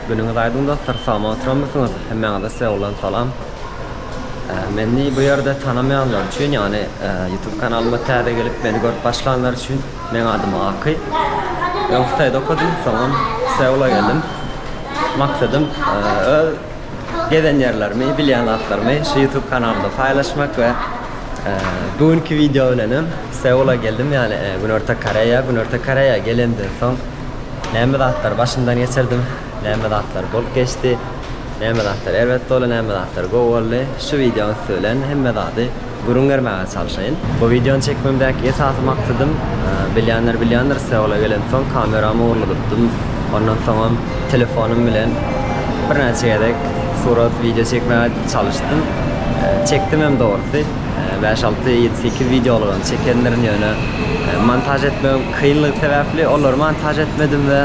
Günüňiz aýdyň dostlar salama oturamysyňyz hemmäňize size bolan salam Meni bu ýerde tanamaýanlar üçin ýagny ýutub kanalyma täze gelip meni görüp başlanlar üçin meň adym Aky öň hytaýda okadym soňam Seula geldim maksadym öz gezen ýerlerimi bilýän zatlarymy şu ýutub kanalynda paýlaşmak we bu günki wideo bilenem Seula geldim ýagny günorta koreýa günorta koreýa gelemden soň Näme zatlar başymdan geçirdim, näme zatlar bolup geçdi, näme zatlar erbet boldy, näme zatlar gowy boldy, şu wideonyň üsti bilen hemme zady gürrüň bermäge çalşaýyn. Bu wideony çekmemdäki esasy maksadym, bilýänler bilýändir, Seula gelensoň kameramy ogurladypdym, ondan soňam telefonym bilen birnäçe gezek surat, wideo çekmäge çalyşdym, çekdim hem dogrusy. Bäş alty ýedi sekiz wideolygam çekendirin ýöne montaž etmegiň kynlygy sebäpli olary montaž etmedim we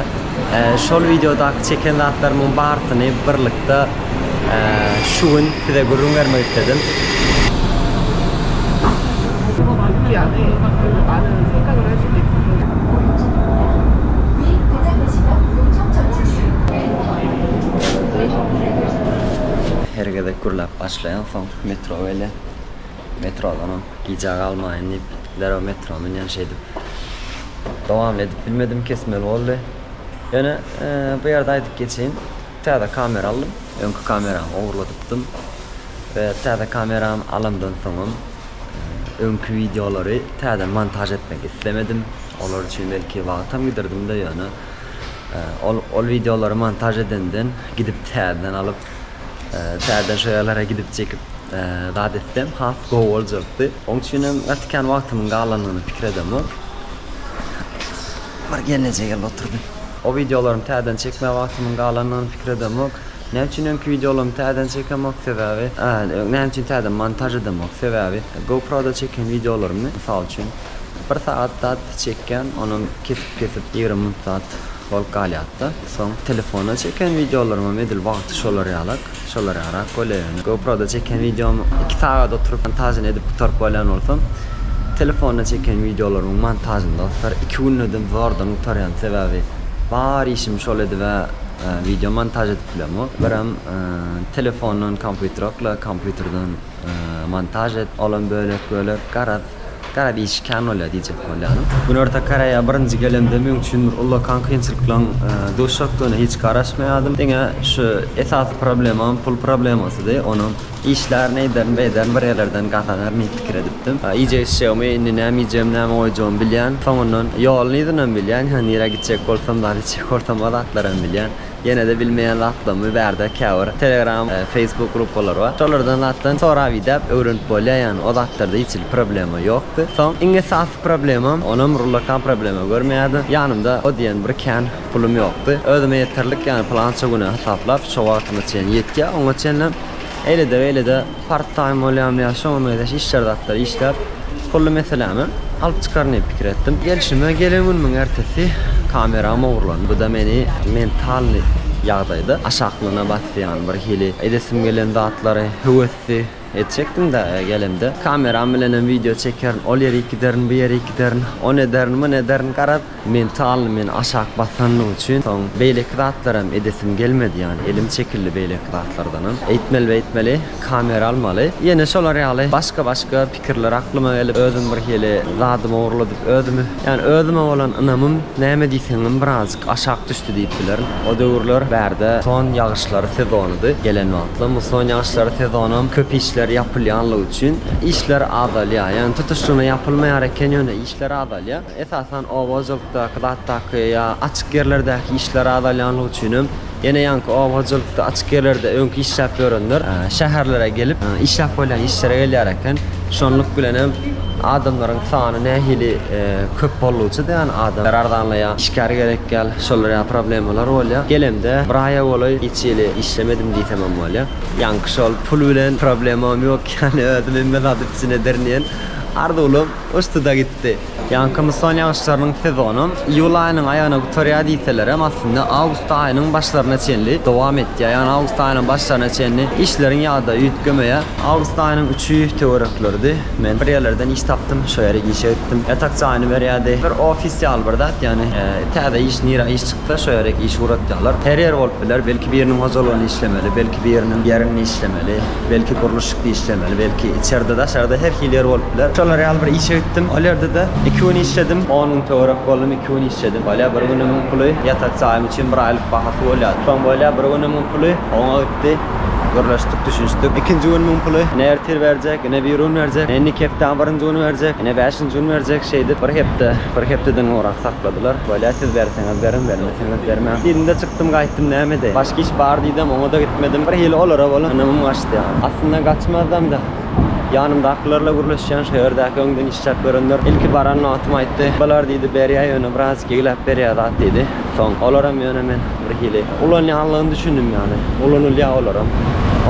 şol wideodaky çeken zatlarymyň barsyny birlikde şu gün size gürrüň bermek isledim. Her gezek gürläp başlaýansoň Metro weli, metrodanam gijä galmaýyn diýip, derrew metroa münýän şeýdip. Dowamly edip bilmedim, kesmeli boldy. Ýöne bu ýerde aýdyp geçeýin, täze kamera aldym, öňki kameramy ogurladypdym we täze kameramy alamdan soňam öňki wideolary täze montaž etmek islemedim, olar üçin belki wagtam gidirdimde, ýöne ol ol wideolary montaž edenden gidip täzeden alyp Täze şaýalara gidip çekip zat etsem has gowy boljakdy. Oň üçin hem gaty kän wagtymyň galanyny pikir edemok. Bir gelneje geldi oturdy. O wideolarymy täzeden çekmä wagtymyň galanyny pikir edemok. Näme üçin öňki wideolarymy täzeden çekemok sebäbi näme üçin täzeden montaž edemok sebäbi GoProda çeken wideolarymy mysal üçin bir sagat zat çekýän onam kesip kesip ýigrimi minut zat bolup galýatda. Soň telefona çeken wideolaryňam edil wagty şolar ýalak, şolar ýarak bolýa ýöne. Goproda çeken wideomy iki sagat oturyp montažyny edip gutaryp bolýan bolsam, telefonda çeken wideolarymyň montažyny dostlar iki gündedem zordan gutarýan sebäbi bar işimi şol edibä wideo montaž edip bilemok. Birem telefondan kompýuterokla, kompýuterden montaž et, olam bölek bölek garaz Gara diş kän bolýar diýjek bolýaryn. Günorta Koreýa birinji gelemde meň üçin bir uly konkençilikleň duşjakdygyna hiç garaşmaýardym. Diňe şu esasy problemam pul problemasydy. Onam işlär, neýderin, beýderin bir ýerlerden gazanar diýip pikir edipdim. Iýjek-içjegimi indi näme iýjegimi, näme goýjagymy bilýän. Soňundan ýoluny yzynam bilýän. Hä nirä gitjek bolsam zat içjek bolsam o zatlaram bilýän. Ýenede bilmeýän zatlarymy bärde käbir telegram facebook grupalary bar şolardan zatdan sorap idäp öwrenip bolýa ýany o zatlarda hiç hili problema ýokdy soň iň esasy problemam onam rullakan problema görmeýärdim ýanymda o diýen bir kän pulum ýokdy özüme ýeterlik ýany plança güne hasaplap şo wagtyma çen ýetýä oňa çenlem eýlede beýlede Part time bolýam ýa şoňa meňzeş işler zatlar işläp pully meselämi alyp çykaryn diýip pikir etdim. Gelşime gelen günümiň ertesi kameram ogurlandy. Bu-da meni mentalnyý ýagdaýda aşaklygyna basdy ýagny bir hili edesim gelen zatlary höwesdi etjekdim-dä gelemde. Kameram bilenem wideo çekerin, ol ýerik giderin, bu ýerik giderin, on ederin, mun ederin garap Men talyny men aşak basanlyk üçin soň beýleki zatlaram edesim gelmedi ýany elim çekildi beýleki zatlardanam eýtmeli beýtmeli kamera almaly ýene şolar ýaly başga başga pikirler aklyma gelip özüm birhili zadymy ogurladyp özümi ýany özüme bolan ynamym näme diýseňem birazjyk aşak düşdi diýip bilerin o döwürler bärde son ýagyşlary sezonydy gelen wagtlam muson ýagyşlary sezonam köp işler ýapylýanlygy üçin işler azalýa ýani tutuşlygyna ýapylmaýar eken ýöne işler azalýa. Esasan oba-hojalykdaky zatdaky ýa açyk ýerlerdäki işler azalýanlygy üçinem, ýene ýaňky oba hojalykda açyk ýerlerde öňki işläp ýörenler şäherlere gelip, işläp bolýan işlere gelýär eken. Şonluk bilen hem adamlaryň sany nähili köp boldugyça-da ýa-ni adamlar arzanlaýar, işgär gerekýär, şolar ýaly problemalar bolýar. Gelemde bir aýa golaý hiç hili işlemedim diýsem hem bolýar. Ýaňky şol pul bilen problemam ýok ýa-ni özüm hemme zady üpjün ederin diýen arzuwlarym uçdy-da gitdi. çykdy. Ýaňky musson ýagyşlarynyň sezony iýul aýynyň aýagyna gutarýar diýselerem, aslynda awgust aýynyň başlaryna çenli dowam etýär. Ýagny awgust aýynyň başlaryna çenli işleriň ýagdaýy üýtgemeýär. Awgust aýynyň üçi töwerekleridi. Men bir ýerlerden iş tapdym, şo ýere işe gitdim. Ýatak jaýyny berýärdi. Bir ofis ýaly bir zat, ýagny täze iş, nirä iş çyksa, şo ýere iş ugratýarlar. Her ýer bolup biler, belki biriniň hojalygyny işlemeli, belki biriniň ýerini işlemeli. Belki gurluşyk da işlemeli, belki içerde daşarda her hili ýer bolup biler. Şolar ýaly bir işe gitdim. Ol ýerde-de iki gün işledim. On gün töwerek boldum, iki gün işledim. Bolýar bir günümiň puly ýatak jaýym üçin bir aýlyk bahasy bolýar. Soň bolýar bir günümiň puly oňa gitdi. Gürleşdik, düşünişdik. Ikinji günümiň puly ine ertir berjek, ine birigün berjek, ine indiki hepdäň birinji güni berjek, ine bäşinji gün berjek. Şeýdip bir hepde, bir hepdeden gowrak sakladylar. Bolýar siz berseňiz beriň, bermeseňiz. Ähmiýet bermän. Indi çykdym gaýtdym nämede. Başga iş bar diýdem oňada gitmedim. Bir hili olara bolan ynamym gaçdy ýaly. Aslynda gaçmazdamda. Ýanymdakylarla gürleşýän şo ýerdäki öňden işläp görenler ilki baran nobatym aýtdy. Balar diýdi berýä ýöne biraz gegläp berýä zat diýdi. Soň olaram ýöne men bir hili ulanýanlygyny düşündim ýaly. Ulanylýa olaram.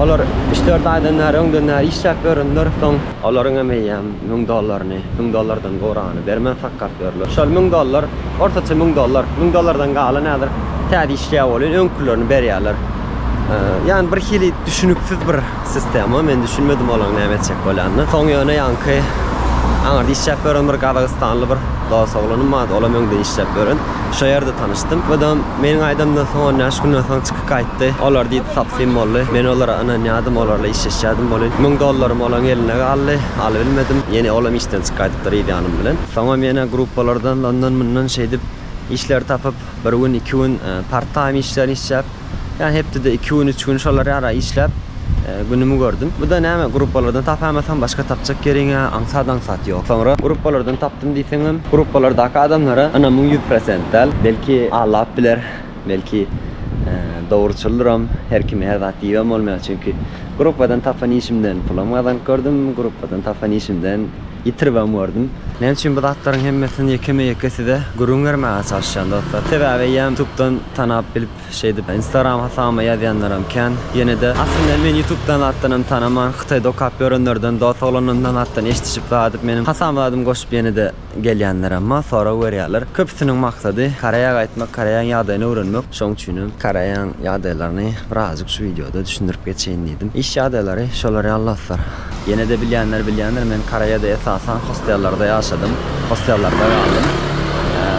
Olar üç-dört aýdan bäri öňden bäri işläp görenler soň. Olaryň hem eýýäm müň dollaryny, müň dollardan gowragyny bermän sakgalt ýörler. Şol müň dollar, ortaça müň dollar, müň dollardan galan häzir täze işleýär welin öňkülerini berýärler. Ýagny bir hili düşüniksiz bir sistema, men düşünmedim olaryň näme etjek bolýanyny. Soň ýöne ýaňky aňyrda işläp ýören bir gazagystanly bir dos oglanym bardy, olam öňden işläp ýören, şo ýerde tanyşdym. Mydam meniň aýdamdan soň on bäş günden soň çykyp. Gaýtdy. Olar diýdi tapsym boldy. Men olara ynanýadym, olarla işleşýädim welin, müň dollarym olaň eline galdy, alybilmedim. Ýene olam işden çykaýdypdyr yz ýanym bilen. Soňam ýene gruppalardan ondan mundan şeýdip işler tapyp, bir gün iki gün part time işlerini işläp, ýa hepdede iki gün üç gün şolar ýara işläp günümi gördüm. Buda näme gruppalardan tapamasam başga tapjak ýeriňä aňsat aňsat ýok. Soňra gruppalardan tapdym diýseňem, gruppalardaky adamlara ynamyň ýüz prosent däl. Belki aldap biler. Belki, dogruçyldyram, her kime her zat diýibem bolmaýar. Çünki gruppadan tapan işimden pulam gazanyp gördüm, gruppadan tapan işimden ýitiribem gördüm. Näme üçin bu zatlaryň hemmesini ýekeme-ýeke size gürrüň bermäge çalyşýan dostlar? Sebäbi eýýäm ýutubdan tanap bilip, şeýdip instagram hasabyma ýazýanlaram kän. Ýene-de, aslynda meni ýutubdan zatdanam tanaman, hytaýda okap ýörenlerden, dost oglanlarymdan zatdan eşidişip, zat edip, meniň hasabyma zadym goşup ýene-de, Gelýänler emma sorag berýärler. Köpüsiniň maksady Koreýa gaýtmak, Koreýaň ýagdaýyny öwrenmek. Şoň üçinem Koreýaň ýagdaýlaryny birazjyk şu wideoda düşündirip geçeýin diýdim. Iş ýagdaýlary şolar ýaly dostlar. Ýene-de bilýänler bilýändir, men Koreýada esasan hostellerde ýaşadym, hostellerde galdym.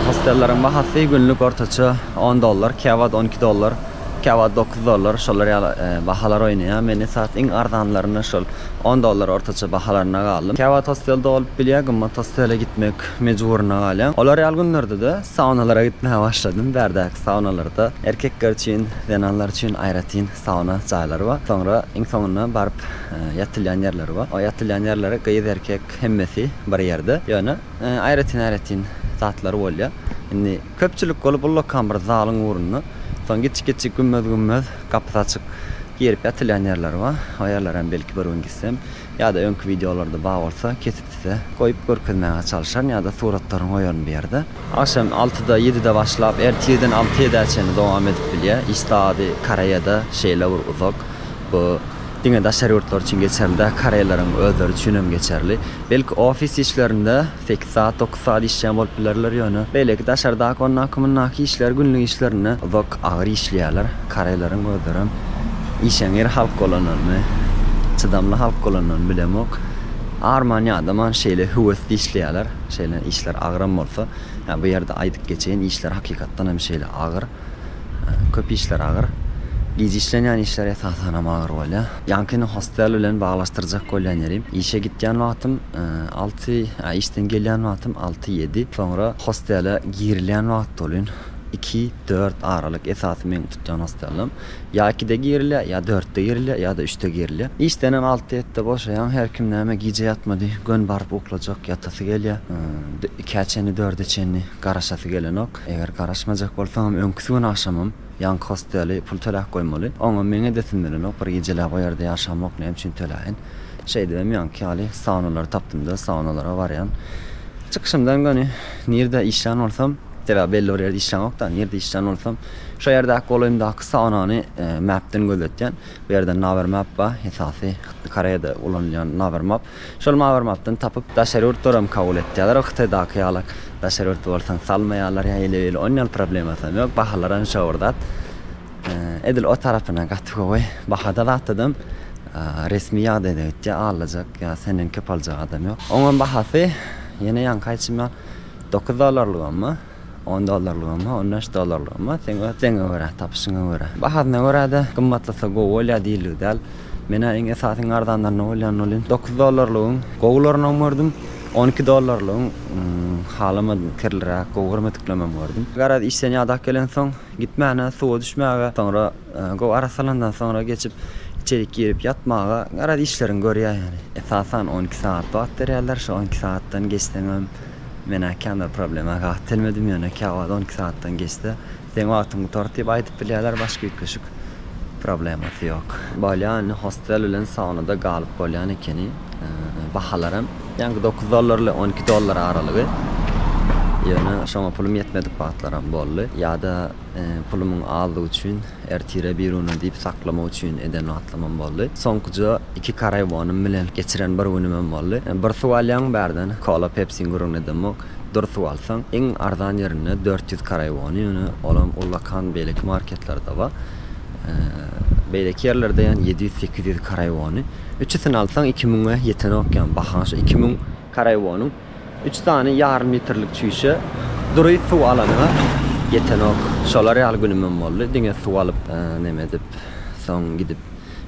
Hostelleriň bahasy günlük ortaça on dollar, käwagt on iki dollar, käwagt dokuz dollar şolar ýaly bahalar oýnaýar. Men esas iň arzanlaryny şol. On dollar ortaça bahalarynda galdym. Käwagt hostel dolup bilýär, gymmat hostele gitmek mejburyna galýaň. Olar ýaly günlerde-de saunalara gitmäge başladym. Bärdäki saunalarda erkekler üçin, zenanlar üçin aýratyn sauna jaýlary bar. Soňra iň soňunda baryp ýatylýan ýerleri bar. O ýatylýan ýerleri gyz, erkek hemmesi bir ýerde. Ýöne aýratyn-aýratyn zatlar bolýar. Indi. Köpçülik bolup ullakan bir zalyň ugrunda, soň giçik-giçik gümmez-gümmez, gapysy açyk, girip ýatylýan ýerler bar. O ýerlere hem belki bir gün gitsem, ýa-da öňki wideolarda bar bolsa, kesip size goýup görkezmäge çalyşaryn ýa-da suratlaryny goýaryn bu ýerde. Agşam altyda, ýedide başlap, ertir ýediden alty-ýedä çenli dowam edip bilýär. Iş sady Koreýada şeýle bir uzak. Bu diňe daşary ýurtlar üçin geçerli däl, koreýleriň özleri üçin hem geçerli. Belki ofis işlerinde Sekiz saat, dokuz saat işleýän bolup bilerler ýöne, beýleki daşardaky ondaky-mundaky işleri günlük işlerini uzak, agyr işleýärler. Koreýleriň özlerem işeňňir halk bolanlaryny, çydamly halk bolanlaryny bilemok. Arman ýadaman şeýle höwesli işleýärler. Şeýle işler agyram bolsa, ýa bu ýerde aýdyp geçeýin, işler hakykatdan hem şeýle agyr. Köp işler agyr. Gije işlenýän işler esasanam agyr bolýar. Ýaňkyny hostel bilen baglaşdyrjak bolýan ýerim, işe gitýän wagtym, Alty, işden gelýän wagtym alty-ýedi. Soňra hostele girilýän wagt bolýun iki, dört aralyk. Esasy meň tutýan hostelim ýa ikide girilýär, ýa dörtde girilýär, ýa-da üçde girilýär. Işdenem alty-ýetide boşaýaň. Her kim näme gije ýatmady, gön baryp uklajak, ýatasy gelýär. Ikä çenli, dörde çenli garaşasy gelenok. Eger garaşmajak bolsaňam öňküsi gün agşamam ýanky hosteli pul töläp goýmaly. Oňam meň edesim gelenok, bir gijeläp o ýerde ýaşamok, näme üçin töläýin. Şeýdibem ýaňky ýaly saunalary tapdym-da, saunalara barýan. Çykyşymdan göni nirde işlän bolsam, sebäbi belli bir ýerde işlänok-da, nirde işlän bolsam, şo ýerdäki golaýymdaky saunany mapden gözletýän. Bu ýerde Naver Map bar, esasy Koreýada ulanylýan Naver Map. Şol Naver Mapdan tapyp, daşary ýurtlaram kabul etýärler, Hytaýdaky ýaly daşary ýurt bolsaň salmaýarlar ýa heleýeli, onýaly problemasam ýok, bahalaram şo bir zat. Edil o tarapyna gaty gowy bahada zatladym. Resmi ýagdaýda gitjek alajak ýa senden köp aljak adam ýok. Oňam bahasy ýene ýaňky aýtşyma dokuz dollarlygamy, on dollarlygamy, on bäş dollarlygamy seň öz islegiňe görä, tapyşyňa görä. Bahasyna görä-de gymmatlasa gowy bolýar diýildigi däl. Men-ä iň esasy iň arzanlaryna bolýanyny ol hem dokuz dollarlygyň gowularynam gördüm, on iki dollarlygyň halamadym kirliräk, gowy görmediklemem gördüm. Garaz işden ýadak gelensoň. Gitmäne, suwa düşmäge, soňra gowy arassalandan soňra geçip içerik girip ýatmaga garaz işleriňi görýär ýaly. Esasan on iki sagat wagt berýärler, şo on iki sagatdan geçseňem menä känbir problema gaty telmedim ýöne käwagt on iki sagatdan geçse seň wagtyň gutardy diýip aýdyp bilýärler başga üýtgeşik problemasy ýok. Bolýa indi hostel bilen saunada galyp bolýan ekeni. Bahalar hem. Ýaňky dokuz dollar ile on iki dollar aralygy, ýöne şoňa pulum ýetmedik wagtlaram boldy. Ýa-da pulumyň azdygy üçin ertire biruna diýip saklamak üçin eden wagtlamam boldy. Soňkuja iki karaiwonym bilen geçiren bir günümem boldy. Bir suw alýaň bärden, kola, pepsiň gürrüňini edemok, dur suw alsaň, iň arzan ýerinde dört ýüz karaiwony, ýöne olam ullakan beýleki marketlerde bar. Beýleki ýerlerde ýan ýedi ýüz, sekiz ýüz karaiwony. Üçüsini alsaň iki müňe ýetenok ýan baha şu iki müň. Karaiwonyň üç sany ýarym litrlik çüýşe dury suw alanyňa ýetenok. Şolar ýaly günümem boldy. Diňe suw alyp neme edip soň gidip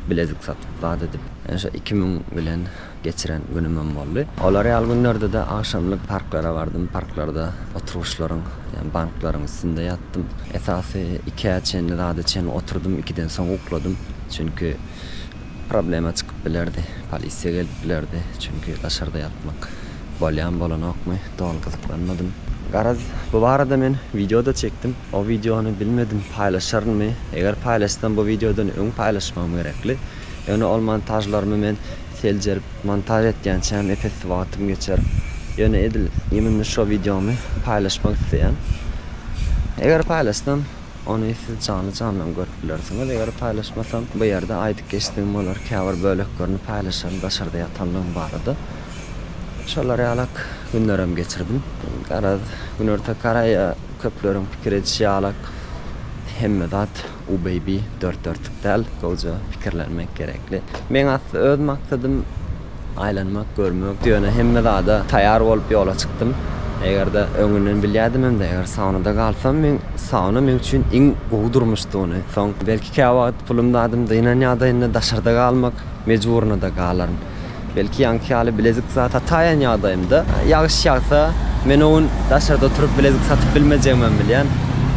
bilezik satyp zat edip şo iki müň bilen geçiren günümem boldy. Olar ýaly günlerdede agşamlyk parklara bardym parklarda oturgyçlaryň ýa banklaryň üstünde ýatdym. Esasy ikä çenli zada çenli oturdym ikiden soň ukladym. Çünki. Problema çykyp bilerdi, polisiýa gelip bilerdi, çünki daşarda ýatmak bolýam bolanokmy, doly gyzyklanmadym. Garaz, bu barada men wideo-da çekdim. O wideony bilmedim paýlaşarynmy, eger paýlaşsam bu wideodan öň paýlaşmagym gerekli. Ýöne ol montažlarymy men seljerip montaž etýänçäm epesli wagtym geçer. Ýöne edil iýmimde şo wideomy paýlaşmak isleýän. Eger paýlaşsam Ony siz janly-jandan görüp bilersiňiz eger paýlaşmasam bu ýerde aýdyp geçdim bolar käbir böleklerini paýlaşaryn daşarda ýatanlygyň barada şolar ýalak günlerem geçirdim garaz günorta koreýa köpleriň pikir edişi ýalak hemme zat u baby dört dörtük däl gowja pikirlenmek gerekli meň asly öz maksadym Aýlanmak, görmek, ýöne hemme zada taýýar bolup ýola çykdym. Eger-de öňünden bilýädimem-de, eger saunada galsam, men sauna meň üçin iň gowy durmuşdygyny, soň belki käwagt pulum zadym dynan ýagdaýynda daşarda galmak mejburyna-da galaryn. Belki ýaňky ýaly bilezik zat sataýan ýagdaýymda. Ýagyş ýagsa, men o gün daşarda oturyp bilezik satyp bilmejegimem bilýän.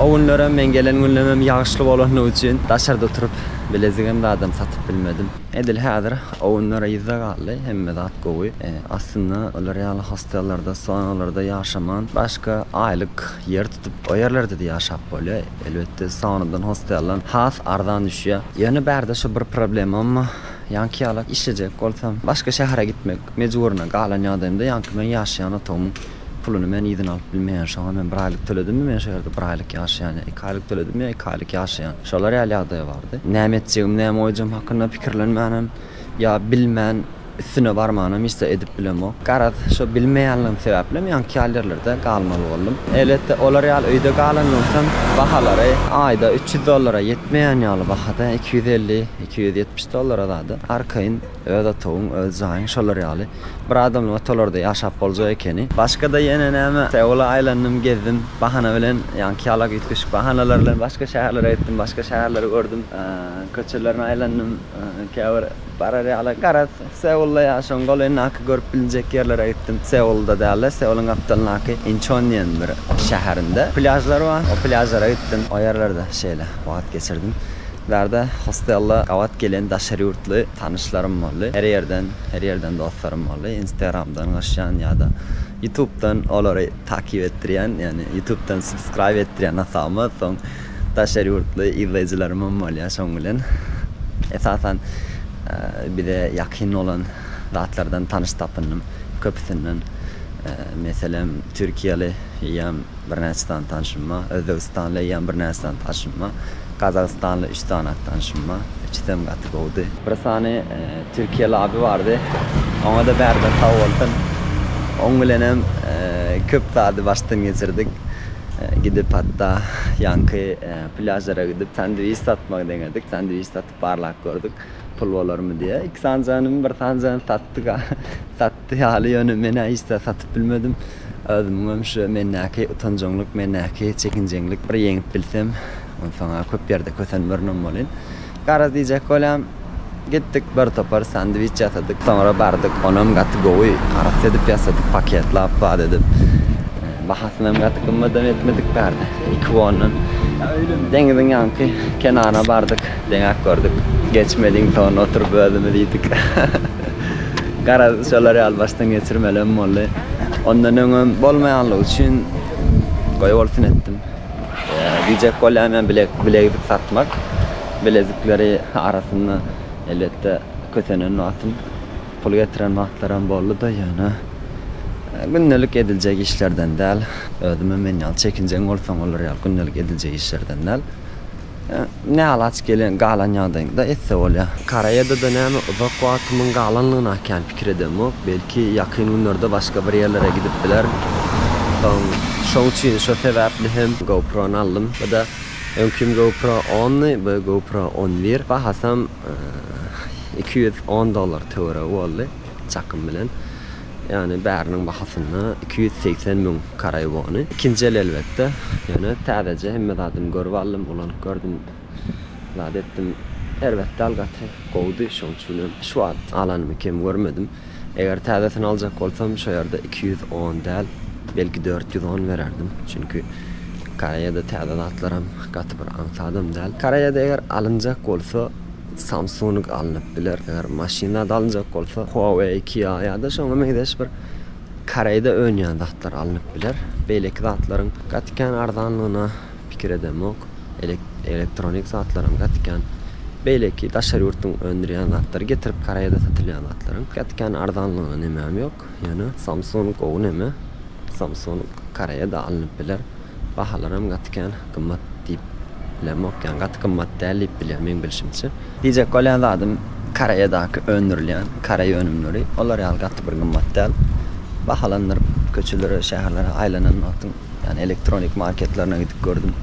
O günlerem, men gelen günlemem ýagyşly bolandygy üçin daşarda oturyp bilezigem zadam satyp bilmedim. Edil häzir ownlar yzda galdy, hemme zat gowy. Aslynda olar ýaly hostellerde, saunalarda ýaşaman, başga aýlyk ýer tutup, o ýerlerde-de ýaşap bolýar. Elbetde, saunadan hostellan has arzan düşýär. Ýöne bärde şu bir problemam, ýaňky ýalak işlejek bolsam, başga şähere gitmek mejburyna galan ýagdaýymda ýaňky meň ýaşaýan otagymyň Puluny men yzyna alyp bilmeýän, şoňa men bir aýlyk töledimmi men şu ýerde bir aýlyk ýaşaýan ýa iki aýlyk töledimmi ýa iki aýlyk ýaşaýan. Şolar ýaly ýagdaý bardy. Näme etjegimi näme goýjagym hakynda pikirlenmänem ýa bilmän üstüne barmanam hiç zat edip bilemok. Garaz şo bilmeýänligim sebäplem ýaňky ýaly ýerlerde galmaly boldum. Elbetde olar ýaly öýde galandan soň bahalary aýda üç ýüz dollara ýetmeýän ýaly bahada iki ýüz elli, iki ýüz ýetmiş dollara zady arkaýyn Öz otagyň, öz jaýyň şolar ýaly. Bir adamlyga tolarda ýaşap boljak ekeni. Başga-da ýene näme, Seula aýlandym, gezdim. Bahana bilen, ýaňky ýala üýtgeşik bahanalar bilen başga şäherlere gitdim, başga şäherleri gördüm. Köçelerini aýlandym, käbir barar ýaly. Garaz, Seulda ýaşaň, golendaky görüp bilinjek ýerlere gitdim. Seulda däl-de, Seulyň gapdalyndaky Inçon diýen bir şäherinde plýažlar bar. O plýažlara gitdim. O ýerlerde şeýle wagt geçirdim. Bärde hostella gabat gelen daşary ýurtly tanyşlarym boldy. Her ýerden, her ýerden dostlarym boldy. Instagramdan gaşýan ýa-da Ýutubdan olary takip etdirýän, ýagny Ýutubdan subscribe etdirýän hasabyma. Soň daşary ýurtly yzlaýjylarym hem bolýar şoň bilen. Esasan bize ýakyn bolan zatlardan tanyş tapyndym. Köpüsinden meselem türkiýeli eýýäm birnäçe sany tanşym bar. Özbegistanly eýýäm birnäçe sany tanşym bar. Gazagystanly üç sany at tanyşym bar. Üçüsi hem gaty gowudy. Bir sany türkiýeli abi bardy. Oňa-da bärde sag bolsun. Oň bilenem köp zady başdan geçirdik. Gidip hatda ýaňky plýažlara gidip sandwiç satmagy deňedik. Sandwiç satyp barlap gördük. Pul bolarmy diýe. Iki sany janymy bir sany jany satdyk-a. Ýatdy ýaly, ýöne men-ä hiç zat satyp bilmedim. Özümiňem şu mendäki utanjaňlyk, mendäki çekinjeňlik bir ýeňip bilsem, onsoň-a köp ýerde kösenmerin-om bolyn. Garaz diýjek bolýan, gitdik, bir topar sandwiç ýasadyk, soňra bardyk, onam gaty gowy, arassa edip ýasadyk, paketlap, zat edip. Bahasynam gaty gymmadam etmedik, bärde iki wondan. Deňiziň ýanky kenaryna bardyk, deňäp gördük. Geçmediň ton, oturyp özümiz iýdik. Garaz, şolar ýaly başdan geçirmelerem boldy. Ondan öňem bolmaýanlygy üçin goýbolsun etdim. Diýjek bolýan men bilek bilekzik satmak bilezikleri arasynda elbetde kösenen wagtym pul getiren wagtlaram boldy-da ýöne gündelik ediljek işlerden däl. Özümem men ýaly çekinjeň bolsaň olar ýaly gündelik ediljek işlerden däl. Näalaç gelen, galan ýagdaýyňda etse bolýar. Koreýada-da näme uzak wagtymyň galanlygyny akýan pikir edemok. Belki ýakyn günlerde başga bir ýerlere gidip bilerin. Soň şoň üçin şo sebäpli hem GoPro-ny aldym. Bu-da öňkim GoPro ondy, bu GoPro on bir. Bahasam iki ýüz on dollar töweregi boldy. çakym bilen. Ýagny bäriniň bahasyna iki ýüz segsen müň karaý wony. Ikinji el elbetde. Ýöne täzeje hemme zadyny görüp aldym, ulanyp gördüm. Zat etdim. Erbet däl gaty gowudy. Şoň üçin hem şu wagt alanymy kem görmedim. Eger täzesini aljak bolsam şo ýerde iki ýüz on däl, belki dört ýüz on bererdim. Çünki karaýada täze zatlaram gaty bir aňsadam däl. Karaýada eger alynjak bolsa Samsung alnyp biler. Eger maşyn zat alynjak bolsa, Huawei, Kia ýa-da şoňa meňzeş bir Koreýde önýän zatlar alnyp biler. Beýleki zatlaryň gaty kän arzanlygyna pikir edemok. Elektronik zatlaram gaty kän beýleki daşary ýurtlaryň öndürýän zatlary getirip Koreýada satylýan zatlaryň gaty kän arzanlygyna nemem ýok. ýok. Ýöne Samsung gowy neme? Samsung Koreýada alnyp biler. Bahalaram gaty kän gymmat diýip bilemok. Ýagny gaty gymmat däl diýip bilýän meň bilşimçe. Diýjek bolýan zadym Koreýadaky öndürilýän Koreý önümleri olar ýaly gaty bir gymmat däl. Bahalandyryp köçelere şäherlere aýlanan wagtym ýagny elektronik marketlerine gidip gördüm.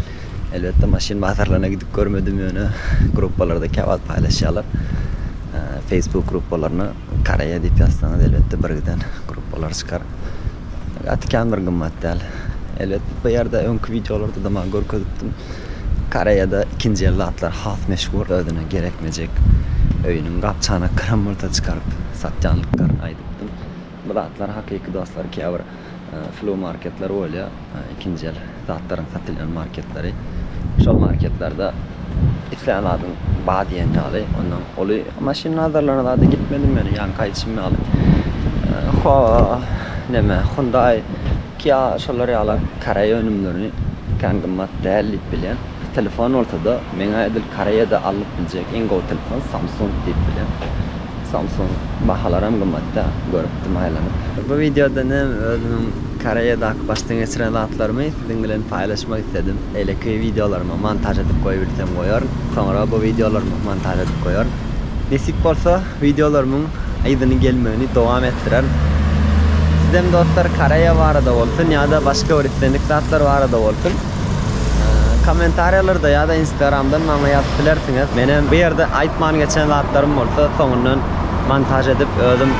Elbetde maşyn bazarlaryna gidip görmedim ýöne gruppalarda käwagt paýlaşýarlar. Facebook gruppalaryna. Koreýa diýip ýazsaňyz elbetde bir giden gruppalar çykar. Gaty kän bir gymmat däl. Elbet bu ýerde öňki wideolarda da maňa görkezipdim. Koreýada ikinji el zatlar has meşhur özüne gerekmejek öýüniň gap-çanaklaryn bolsa çykaryp satýanlyklaryny aýdypdym. Bu zatlar hakyky dostlar käbir Flow marketler bolýar, ikinji el zatlaryň satylýan marketleri. Şol marketlerde islän zadyň bar diýen ýaly, ondan uly maşyn nazarlanan zada gitmedim men, ýaňky aýdyşym ýaly. Ho, näme, Hyundai, Kia şolar ýaly koreý önümlerini kän gymmat däl diýip bilýän. Bu telefon bolsada meňä edil koreýada alnyp biljek iň gowy telefon samsung diýip bilýän. Samsung bahalaram gymmatda görüpdim aýlanyp. Bu wideoda nem özümiň koreýadaky başdan geçiren zatlarymy siziň bilen paýlaşmak isledim. Beýleki wideolarymy montaž edip goýubilsem goýaryn. Soňra bu wideolarymy montaž edip goýaryn. Nesip bolsa wideolarymyň yzyny gelmegini dowam etdirerin. Sizem dostlar koreýa barada bolsun ýada başga bir islendik zatlar barada bolsun. Kommentariýalarda ýa-da instagramdan maňa ýazyp bilersiňiz. Men hem bu ýerde aýtman geçen zatlarym bolsa soňundan montaž edip özüm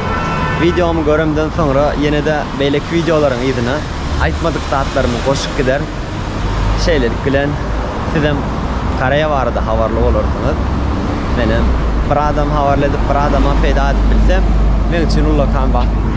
wideomy göremden soňra ýene-de beýleki wideolaryň yzyna aýtmadyk zatlarymy goşup gider. Şeýlelik bilen siz hem Koreýa barada habarly bolarsyňyz. Men hem bir adam habarly edip bir adama peýda edip bilsem meň üçin ullakan bagt.